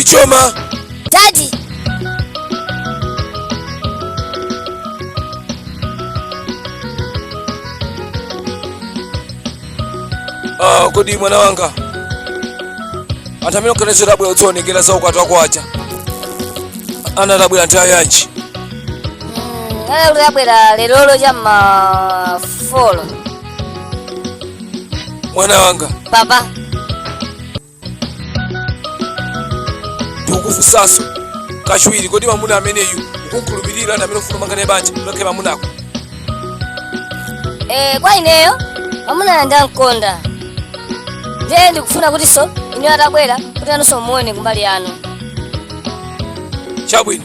ichoma Daddy. ah, kodi mwana wanga anthu amene unkanena kuti abwera kudzaonekera za ukwati wako aja anati abwera nthawi yanji akuti abwera lerolo cha m'ma folo mwana wanga papa ndikukufunsanso kachiwiri kodi mamuna ameneyu ukumkhulupirira ndi amene ukufuna kumanga naye banja akhale mamunako Eh, kwa ineyo mamunayo ndimamkonda ndiye ndikufuna kutinso ineyo atabwera kuti inunso mumuone kumbali yanu chabwino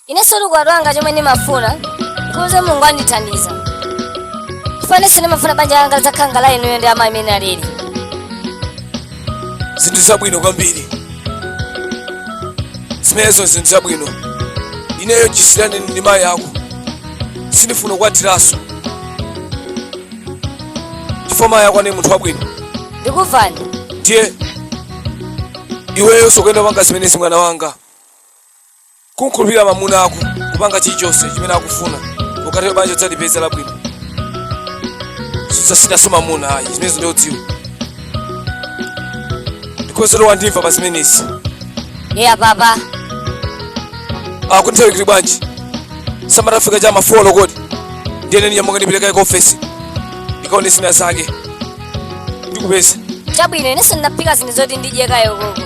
Inenso ukwati wanga chomwe ndimafuna ndikuuzeni Mulungu andithandize. Chifukwa inenso ndimafuna banja langa lidzakhale ngati la inuyo ndi amayi mmene analili. zinthu zabwino kwambiri zimenezo zinthu zabwino ineyo chisiyirani ndi mayi ako sindifuna kukwatiranso chifukwa mayi ako anali munthu wabwino Ndikuvani. ndiye iweyonso ukuyenera kupanga zimenezi mwana wanga kumkhulupirira mamuna ako kupanga chilichonse chimene akufuna ukatero banja udzalipeza labwino sudzasiyanso mamuna ayi zimenezo ndikudziwa ndikuuze wandimva pa zimenezi eya papa kodi nthawi ili bwanji saati afika cha m'ma folo kodi ndiye ine ndinyamuka ndipitekaye ku ofesi ndikaone zina zake ndikupeza chabwino inenso ndikaphike zinthu zoti ndidye kaye okay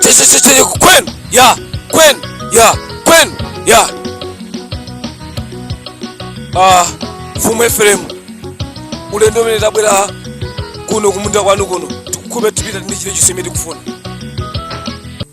Sisi kwenu ya kwenu ya kwenu ya ah mfumu Efremu ulendo umene tabwera kuno kumunda kwanu kuno tikukhupe tipita ndi chile chonse imene tikufuna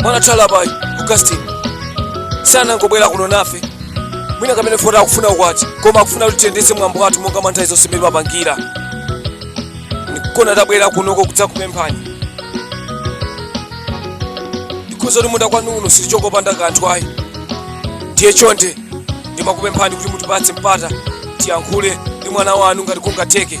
mwana wathu Alabayi Augustine sanangobwera kuno nafe mwina kumene poti akufuna ukwati koma akufuna kuti tiyendetse mwambo wathu monga mwa nthawi zonse mmene timapangira n'kuona tabwera kunoko kudzakupemphani ndikudziwa kuti m'mudzi kwanu muno sitichoka opanda kanthu ayi ndiye chonde ndimakupemphani kuti mutipatse mpata tiyankhule ndi mwana wanu ngati kungatheke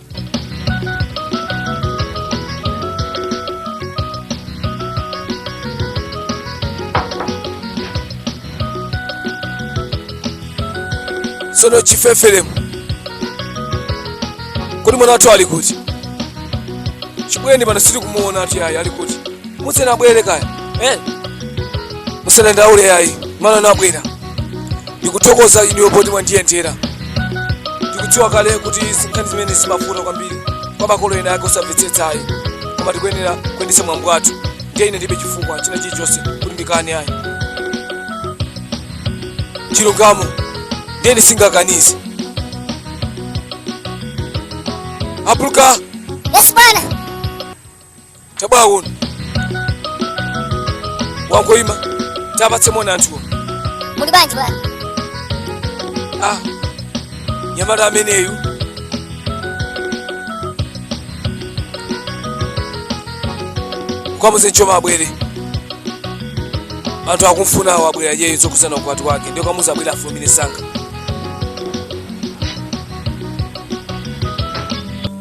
sono chifeferemu kodi mwana wathu ali kuti chibwereni pano sitikumuonatu ayi ali kuti muuzeni abwere kaya eh? musadandaule ayi mwana abwera ndikuthokoze inuyo poti mwandiyendera ndikudziwa kale kuti nkhani zimenezi zimavuta kwambiri kwa makolo ena ake osamvetsetsa ayi koma tikuyenera kuyendetsa mwambo wathu ndiye ine ndibe chifukwa china chilichonse kuti ndikane ayi chilungamo ndiye sindingakanize apuluka Yes, bwana. tabwera kuno wangoima tapatse moni anthuwa muli bwanji bwana ah mnyamata ameneyu ukamuuze nchoma abwere anthu akumfunawo abwerera iyeyo zokhudzana ukwati wake ndiye ukamuuze abwere afulumire msanga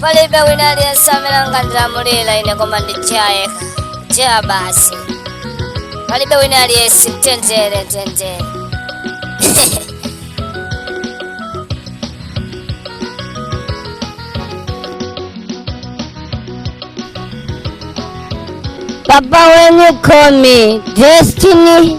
palibe wina aliyense amene angandilamulira ine koma ndi Jah yekha Jah basi palibe wina aliyense mtendere mtendere Papa, when you call me, destiny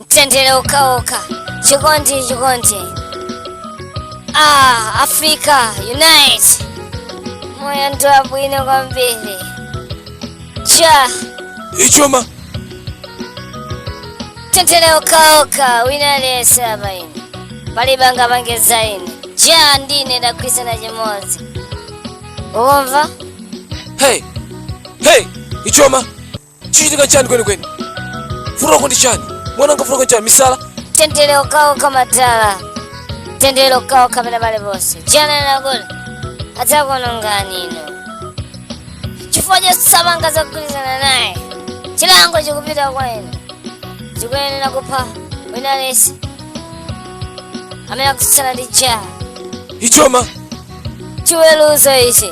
mtendere okhaokha chikondi chikondi ah africa unite moyo ndi wabwino kwambiri Jah ichoma mtendere okhaokha wina aliyense apa ine palibe angaopseze ine Jah ndi ine tagwirizana chimodzi ukumva hey hey ichoma chikuchitika chani kwenikweni vuto lako ndi chani mwananga vuto lako ndi chani misala mtendere okhawokha madala mtendere okhawokha kapena pale ponse Jah ananena kuti adzakuonongani inu chifukwa chosapanga zogwirizana naye chilango chikupita kwa inu chikuyenera kupha wina aliyense amene akutsutsana ndi Jah ichoma chiweruzo ichi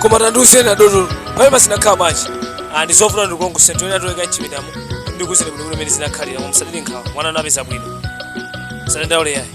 koma tandiuzeni adotolo mmene zinakhalira manje nzofuna ndikulongosoleni tiyeni tikalowe mchipindamo ndikuuzeni bwinobwino mene zinakhalira koma musade nkhawa mwana wanu apeza bwino musadandaule yayi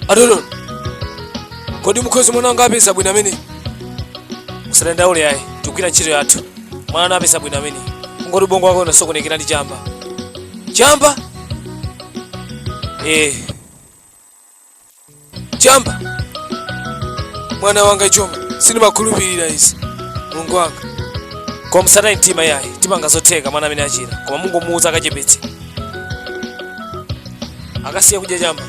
adolo kodi mukuti mwana wanga apeza bwino amene musadandaule ayi tikugwira ntchito yathu mwana wanu apeza bwino amene kungoti ubongo wake unasokonekera ndi chamba chamba eh chamba mwana wanga chomwe sindimakhulupirira izi mulungu wanga koma musataye mtima yayi tipanga zotheka mwana amene achira koma mungomuwuza akachepetse akasiya kudya chamba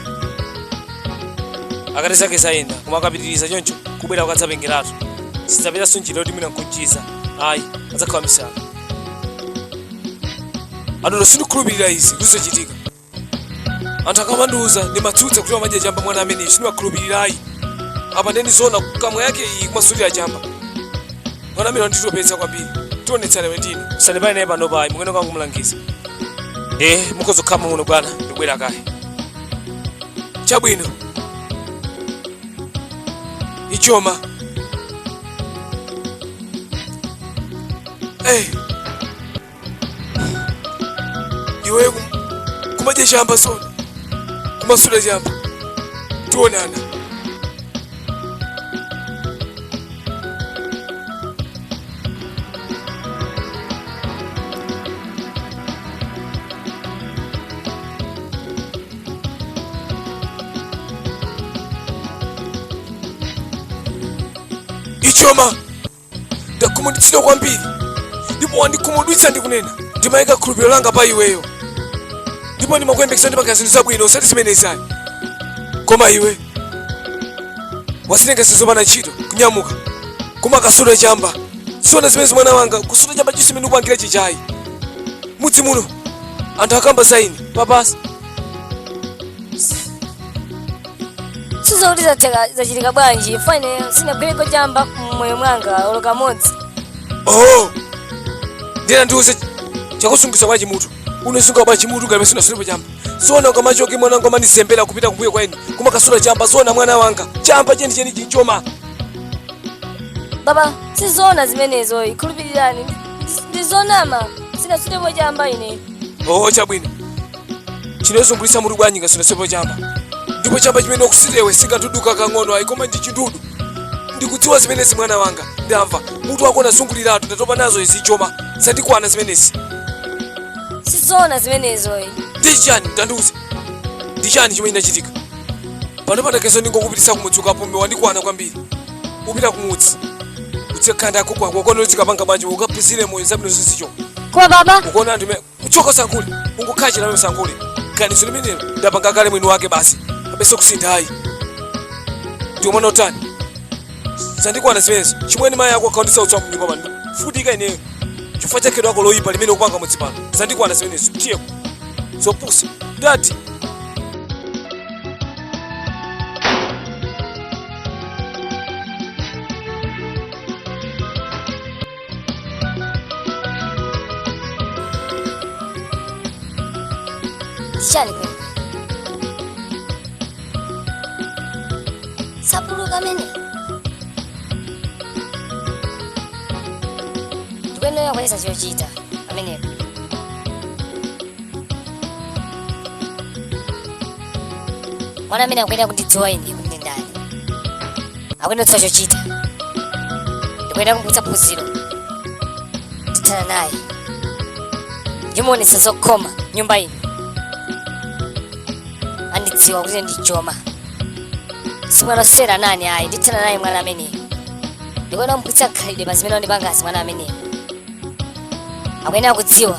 akatero zake zayenda koma akapitiriza choncho kubwera ukadzapengeratu sitidzapezanso njira yoti mwina nkumuchiza ayi adzakhala wamisala adodo sindikhulupirira izi kuti zochitika anthu akamandiuza ndimatsutsa kuti amadya chamba mwana amene sindiwakhulupirira ayi apa nde ndi zona nkamwa yake iyi kumasutira chamba mwana amene wanditopetsa kwambiri tionetsana iwe ndine musampange naye pano ayi mukangomlangiza eh mukhoza kukhala muno bwana ndibwera kaye chabwino ichoma eh iwe kum- kumadya chamba zoona kumasuta chamba tionana ichoma ndakhumudwitsidwa kwambiri ndipo wandikhumudwitsa ndikunena ndimayika chikhulupiriro langa pa iweyo ndipo ndimakuyembekeza uzipanga zinthu zabwino osati zimenezi ayi koma iwe wazitenga zopanda ntchito kunyamuka kumakasuta chamba zoona zimenezi mwana wanga kusuta chamba chomwe chimene ukupangira nchiyani mudzi muno anthu akamba za ine papasi sindikudziwa kuti zatheka zachitika bwanji ine sinagwireko chamba mmoyo mwanga olo kamodzi oh ndina ndiuze chakuzunguza bwanji mutu unazungulira bwanji mutu ngati sunasutepo chamba zoona ukamachoka mwana wanga umandizembera kupita kumbuyo kwaeni kumakasuta chamba zoona mwana wanga chamba cheni cheni ichoma baba sizona zimenezo ndikhulupirireni ndizonama sinasutepo chamba ine oh chabwino chinokuzungulitsa mutu bwanji ngati unasutapo chamba ndipo chamba chimene ukusuta iwe sichoduka kang'ono ayi koma ndi chindudu ndikudziwa zimenezi mwana wanga ndamva mutu wako unazunguliratu ndatopa nazo izi Joma zandikwana zimenezi sizoona zimenezo ayi ndi chani tandiuze ndi chani chomwe chinachitika pano pa zakezo ndingokupititsa kumudzi ukapume wandikwana kwambiri upita kumudzi kwa asekulu ako kwako ukonolitsikapanga bwanji ukaphunzire moyo zabwino zosiizo koma baba ukuona anthu me- choka usayankhule ungokhala chilili usayankhule ganizo limeneli ndapanga kale mwini wake basi palibenso kusintha ayi ndiye umafuna utani zandikwana zimenezo achimwene mayi ako akundionetsa utsi mnyumba pano kuvutika ineyo chifukwa cha khalidwe lako loyipa limene ukupanga mudzi pano zandikwana zimenezo tiye uko zopusa dati Zichani kodi? Sapulika ameneyu? Ndikuyenera kumuonetsa chochita pamenepo. Mwana amene akuyenera kundidziwa ine kuti ndi ndani kumuonetsa chochita ndikuyenera kumupatsa phunziro ndithana naye ndimuonetsa zokhoma nyumba ino andidziwa kuti ine ndi Joma simwana wosewera naye ayi ndithana naye mwana ameneyo ndikuyenera kumuphunzitsa khalidwe pa zimene wandipangazi mwana ameneyo akuyenera kudziwa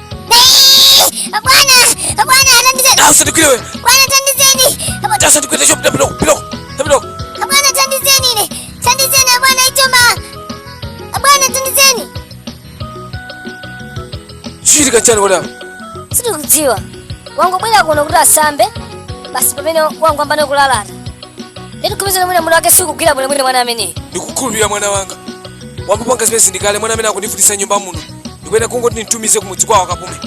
Chachitika chani madam? Sindikudziwa. Wangobwera kuno kuti asambe basi pamene wangoyamba ndi kulalata. Lero kumizana mwina mutu wake sukugwira bwino mwina mwana ameneyi. Ndikukhulupirira mwana wanga. Wangopanga zimenezi ndi kale mwana amene akundivutitsa nyumba muno. ndikuyenera kungoti ndimutumize kumudzi kwawo akapume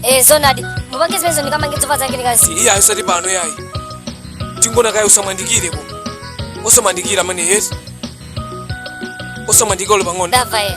Eh, zonadi mupange zimenezo ndikamange zovala zake ndikamusiye asati pano yayi tingoona kaye usamuyandikire osamuyandikira ameneyo osamuyandikira olo pang'ono ndava ye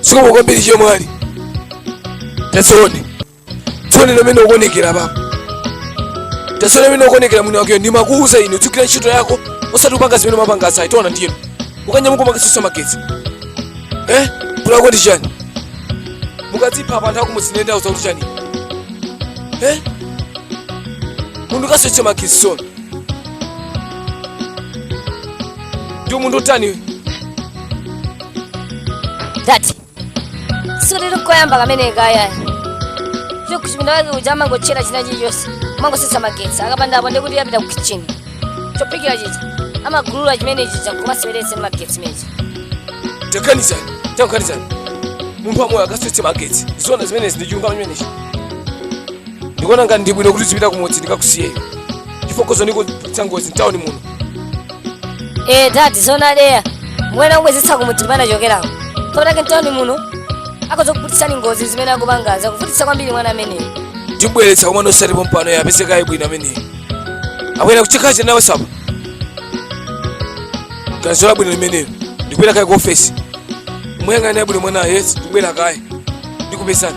zikomo kwambiri achemwali taziona ziona mmene ukuonekera apa taziona mmene ukuonekera mwini wakeyo ndimakuuza ine udzigwira ntchito yako osati kupanga zimene umapanga izi taona ndiyeno ukanyamuka umakisisa magetsi eh kulako ndi chani mukadzipha apa anthu akumuzinenda uzakuti chani eh munthu kasese magetsi sona ndi munthu utani tati sikuti ndi koyamba kamene kaya fyo kuchipinda wake uja amangotchaya china chilichonse amangosiya magetsi akapandapo ndi kuti apita ku kitchen chophikira chija amangogulula chimene chija kumaseweretsa ndi magetsi nde taganizani taganizani munthu wamoyo akayatsa magetsi zona zimenezi ndi chilungamo chimenechi ndikuona ngati ndibwino kuti azipita kumudzi ndikamusiye iyeyo chifukwa khoza kutiputitsa ngozi mtawuni muno ee dadi zoona ndiye muyenera kumubwezetsa kumudzi kumene anachokerako chifukwa chake mtawuni muno akhoza kuputitsani ngozi zimene akupanga zakuvutitsani kwambiri mwana ameneyo ndibweretsa komano osati pompano apeze kaye bwino ameneyo akwena kuchikazi nawe ganizo labwino limenelo ndikubwera kaye ku ofesi muyang'ane bwino mwana yes ndikubwera kaye ndikupezani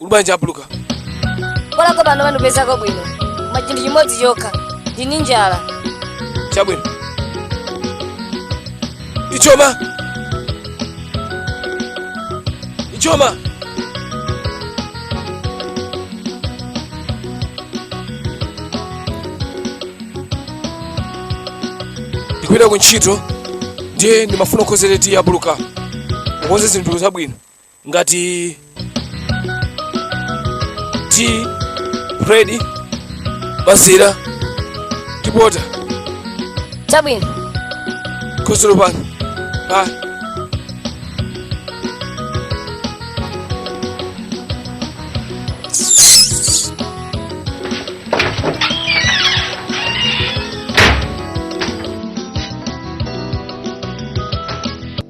Uli bwanji abuluka? Koma apo pano pandipezako bwino. Koma chinthu chimodzi chokha. Ndini njala. Chabwino. Ichocho. Ichocho. Ndikupita ku ntchito ndiye ndimafuna kukonzera tiyi abuluka. Ukonze zinthu zabwino. ngati tiyi bread mazira ndi pota chabwino khuzulu pano pa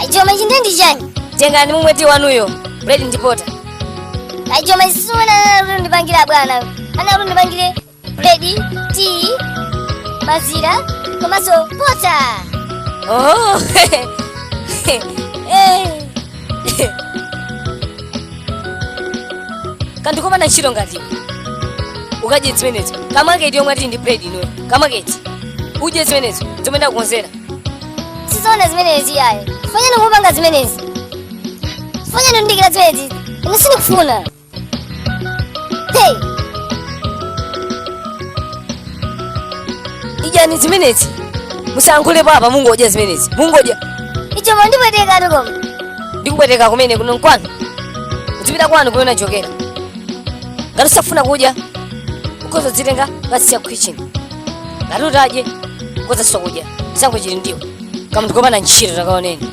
Ajoma ichi nde ndi chani? tengani mumwe tiyi wanuyo buledi ndipota Ajoma ichi sizimene anali kuti undipangire bwana. Anali kuti undipangire buledi tiyi mazira komanso pota oh. kaya ukapanda ntchito ngati ukadye zimenezo kamwe tiyi yomweyo tiyi ndi bread inoyo kamwe tiyi udye zimenezo zomwe ndakukonzera sizoona zimenezi iyayo chifukwa chani ukupanga zimenezi chifukwa chani ukundichitira zimenezi ine sindikufuna Hey! idyani zimenezi musankhulepo apa mungodya zimenezi mungodya Icho mandipweteka tukoma. ndikupweteka kumene kuno nkwanu uzipita kwanu kumene unachokera ngati usafuna kudya ukhoza kudzitenga ngati usiya kitchen ngati utadye ukhoza osakudya sankho chili ndiwo kamunthu kopanda ntchito takaoneni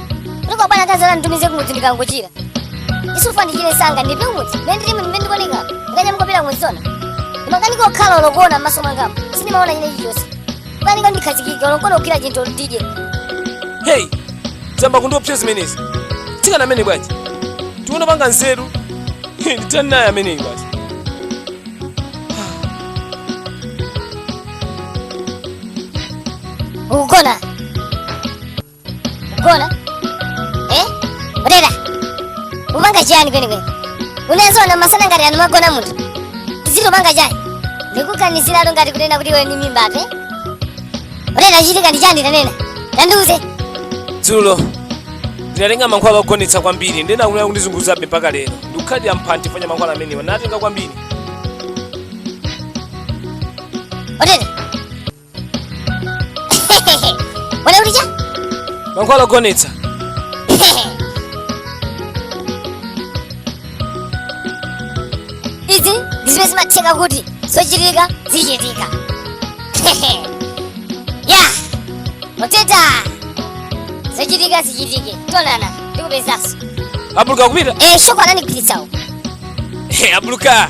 ndipo bwana akazi anditumize kumudzi ndikangochira chifukwa ndichire msanga ndipite kumudzi mene ndili mene ndikuoneka ndikanyamuka pita kumudzi zona ndimakaniko okhala olokuona m'maso mwangamu sindikuona china chilichonse kukanika ndikhazikika olokuona kukhudza chinthu ndidye heyi zayamba kundiopsa zimenezi mtsikana ameneyu bwanji tiona apanga nzeru He, ndithani naye ameneyu bwanji ukugona Gona. Eh? Rera. Ukupanga chani kweni kweni. Unaziona masana ngati ano amagona munthu. Ukupanga chani. Ndikuganizira ngati kunena kuti iwe ndi mimbatu. eh? Rera chachitika ndi chani tanena. Tandiuze. dzulo ndinatenga mankhwala ogonetsa kwambiri ndiye akuyamba kundizunguzabe mpaka lero ndiye kukhala ali ndi mphamvu ya mankhwala amenewa ndinatenga kwambiri Rera. wala ulija mankhwala ogonetsa izi ndi zimene zimatheka kuti zochitika zichitika ya moteta zochitika zichitike tonana ndikupezanso abuluka kupita eh shoko anandigwiritsawo abuluka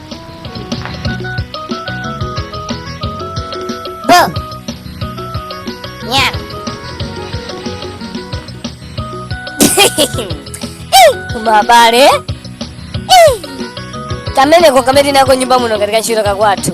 Go. Nyam. kumabale kameneko kamene nako nyumba muno kapita ntchito kakwathu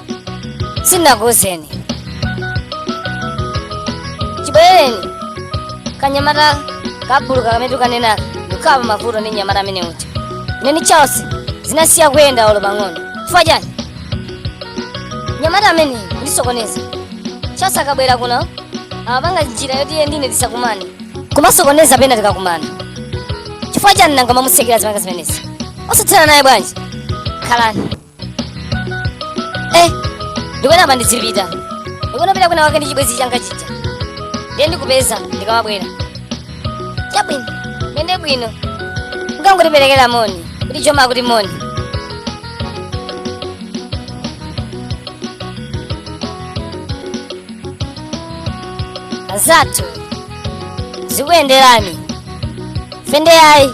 sindinakuuzeni chibwerereni kanyamata kabuluka kamene mukukanenaka ndikukhala pa mavuto ndi nyamata amene uja ine ndi charles zinasiya kuyenda olo pang'ono chifukwa chani nyamata amene akundisokoneza charles akabwera kuno amapanga njira yoti iye ndine tisakumane kumasokoneza pena tikakumana chifukwa chani nanga mumamusekerera akamapanga zimenezi osathana naye bwanji khalani Eh, ndikuona apa ndidzipita ndikunapita kwina wake ndi chibwenzi changa chija ndiye ndikupeza ndikamabwera chabwino muyende bwino mukangotiperekera moni kuti choma akuti moni anzathu zikuyenderani fende yayi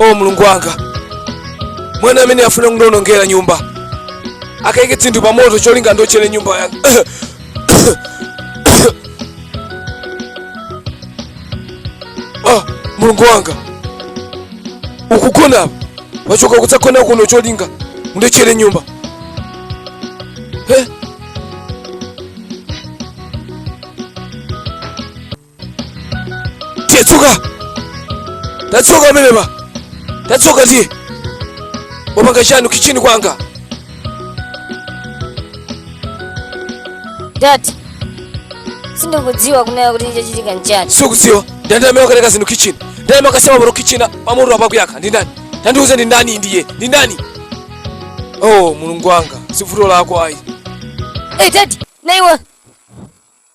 o mulungu wanga mwana amene afuna kundionongera nyumba akaike zinthu pa moto cholinga undiotchere nyumba yanga ah, mulungu wanga ukugona apa wachoka kudzagona kuno cholinga undiotchere nyumba eh? tiye choka tachoka pamenepa tachoka tiye wapanga chani kichini kwanga dadi sindikudziwa kunena kuti chachitika nchani sukudziwa ndani amene wakaika zinthu kichini ndani amene akasema pano kichini pamoto apa akuyaka ndi ndani tandiuze ndi ndani ndiye ndi ndani oh mulungu wanga sivuto lako ayi hey, dadi naiwe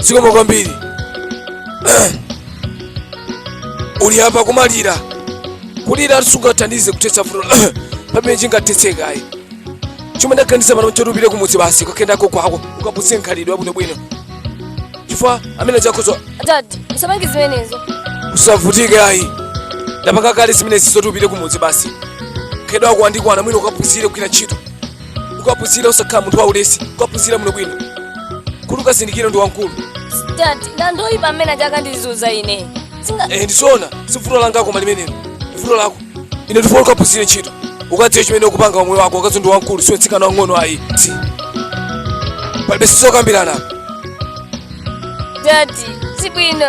zikomo kwambiri uli apa kumalira kulira sungathandize kuthetsa vuto limene lingathetseke ayi chomwe ndaganiza pano nchoti upite kumudzi basi ukakhaleko kwako ukaphunzire khalidwe labwinobwino chifukwa amene chakhoza Dadi, usapange zimenezo. usavutike ayi ndapanga kale zimenezi zoti upite kumudzi basi khalidwe lako landikwana mwina ukaphunzire kugwira ntchito ukaphunzire usakhale munthu waulesi ukaphunzira muno bwino kuti ukazindikire ndiwe wamkulu Dadi, ndandoyipa amene aja akundizunza ine. Singa eh ndizoona sivuto langa koma limenelo vuto lako ine ndifuna ukaphunzire ntchito ukadziwe chimene ukupanga moyo wako ukadziwe ndiwe wamkulu siwe mtsikana wang'ono ayi tsi palibe sizokambirana apa dadi si bwino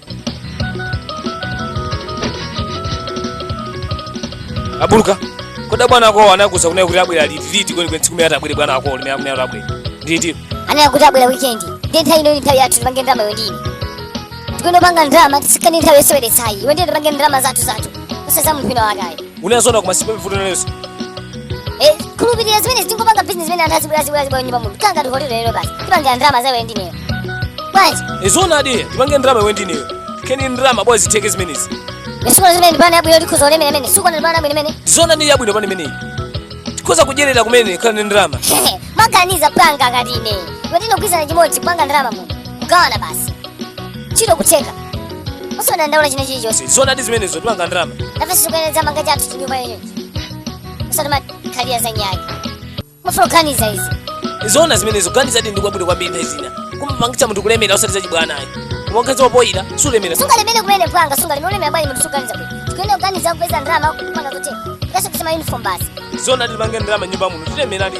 abuluka kodi abwana ako anakuuza kunena kuti abwera liti liti kwenikweni tsiku limene atabwere bwana ako limene akunena kuti abwera ndi liti anati kuti abwera wikendi ndi nthawi ino nthawi yathu tipange ndalama iwe ndine tikuyenera kupanga ndalama tisikane nthawi yoseweretsa ayi iwe ndi ine tipange ndalama zathu zathu osati za munthu wina wake ayi unazona koma sipepi vuto langaso Eh, khulupirira zimenezi ingopanga business zimene anthu azibwera azibwera azibwera nyumba munthu ukanganiza ndi hotelo lero basi tipangira ndalama iwe ndi ineyo bwanji nzoona eti tipange ndalama iwe ndi ineyo kenako ndalama bwa zitheke zimenezi ndi sukuona zimenezi ndi plan yabwino tikhoza kulemera mene sukuona ndi plan yabwino mene zoona ndi yabwino plan imeneyi tikhoza kudyerera kumene kukhala ndi ndalama umaganiza mpwanga ngati ine iwe ndi ine kugwirizana chimodzi kupanga ndalama muno kugawana basi ntchito kutheka usadandaula china chilichonse zoona ndi zimenezo tipanga ndalama nafe sizikuyenedza mpwanga chathu chinyumba chonsechi osati kumakhalira za nyaki mafunika kuganiza izi zoona zimenezo kuganiza ndi kwabwino kwambiri nthawi zina kumapangitsa munthu kulemera osati zachibwana ayi kumakhala opoira sulemera sungalemere kumene mpwanga sungalemere ulemera bwanji munthu sukuganiza kuti tikuyenera kuganiza kupeza ndalama kupanga kuti ngaso kusema uniform basi zoona tipange ndalama nyumba muno tilemera ndi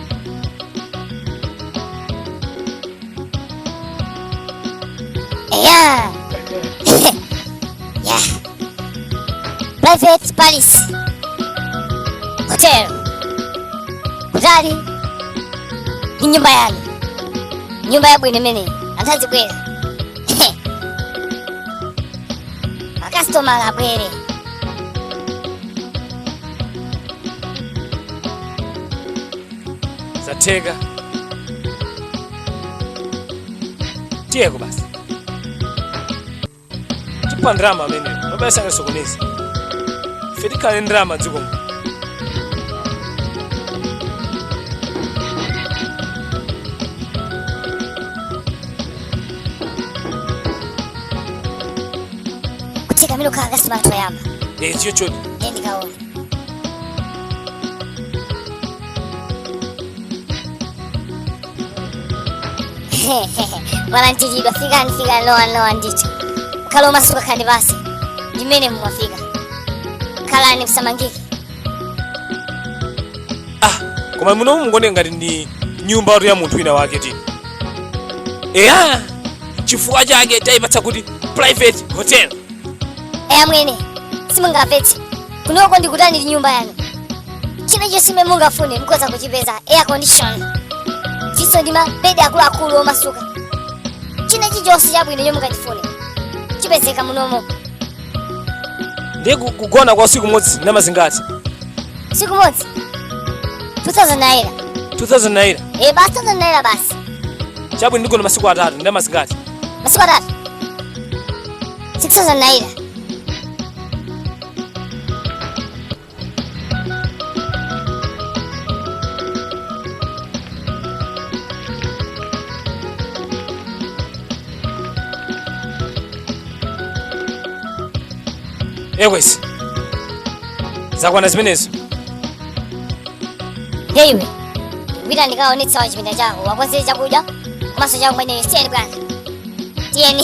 Yeah. yeah. Private Palace Hotel. Kutali ni nyumba yani, nyumba ya bwene mene antazi bwere makasitoma la bwere zatheka tiyeko basi tipha ndalama amene mabasi asanasokoneze ife tikhala ndi ndalama dziko muno kutekamira okha akasima toyamba eziyo choti ndiye ndikuona mwalandiridwa fikani fikani lowani lowani ndithu khalani omasuka khandi basi ndimene mumafika khalani musamangike ah koma muno mukuona ngati ndi nyumba ya munthu wina wake eti eya chifukwa chake taipatsa kuti private hotel eya mwene simungavetse kunoko ndi kutali ndi nyumba yanu china chilichonse chimene mungafune mukhoza kuchipeza air condition chiso ndi mabedi akuluakulu omasuka china chilichonse chabwino chomwe mungachifune chipezeka munomo ndiye ku- kugona kwa usiku umodzi ndalama zingati usiku umodzi 2000 naira 2000 naira eh basi 2000 naira basi chabwino ndigona masiku atatu ndalama zingati masiku atatu 6000 naira eh basi zakwana zimenezo nde iwe pita ukawaonetse awa chipinda chawo uwakonzere chakudya komanso chakumwa tiyeni bwana tiyeni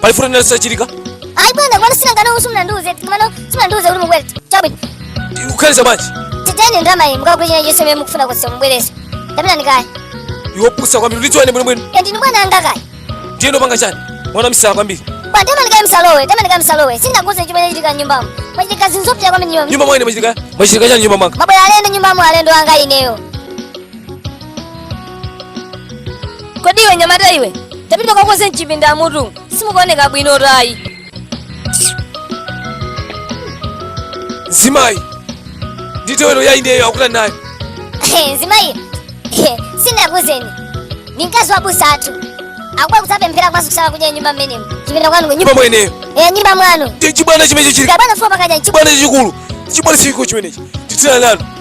pali mfuti nene sachilika ayi bwana wanga sina ngana usu simunandiuze kumano simunandiuze uli mubwere chabwino ukhaliza bwanji titene ndalama iyi mukagule china chonse chomwe mukufuna kuti mubweretse ndapita ndikaya iwe wopusa kwambiri ulidziwane bwinobwino eti ndi bwana anga kaya ndiye ndikupanga chani wamisala kwambiri bwana tema ndikaya msalowe tema ndikaya msalowe sindinakuuzeni chimene chachitika nyumbamo mwachitika zinthu zopusa kwambiri nyumba nyumba mwa ine mwachitika mwachitika chani nyumba mwanga mwabwera alendo nyumbamo alendo anga ineyo kodi iwe mnyamata iwe tapita ukakonze mchipinda mutu simukuoneka bwino tayi mzimayi nditewero ya indeyo akuta naye mzimayi sindinakuuzeni ndi mkazi wa abusa athu akubwera kudzapemphera komanso kusala kudya nyumba mmenemo chipinda kwanu nyumba imeneyo e nyumba mwanu chibwana chimenecho chili kabwana fo pakadya chibwana chikulu chibwana chikulu chimenechi titira nanu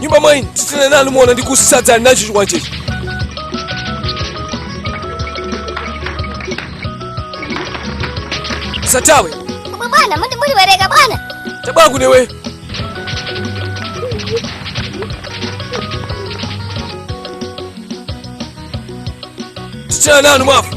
nyumba mwa ine titene nanu muona ndikusadzani nacho chikwanjecho musathawe Koma bwana, muti muliwereka bwana. tabwera kuno iwe titene nanu mwafu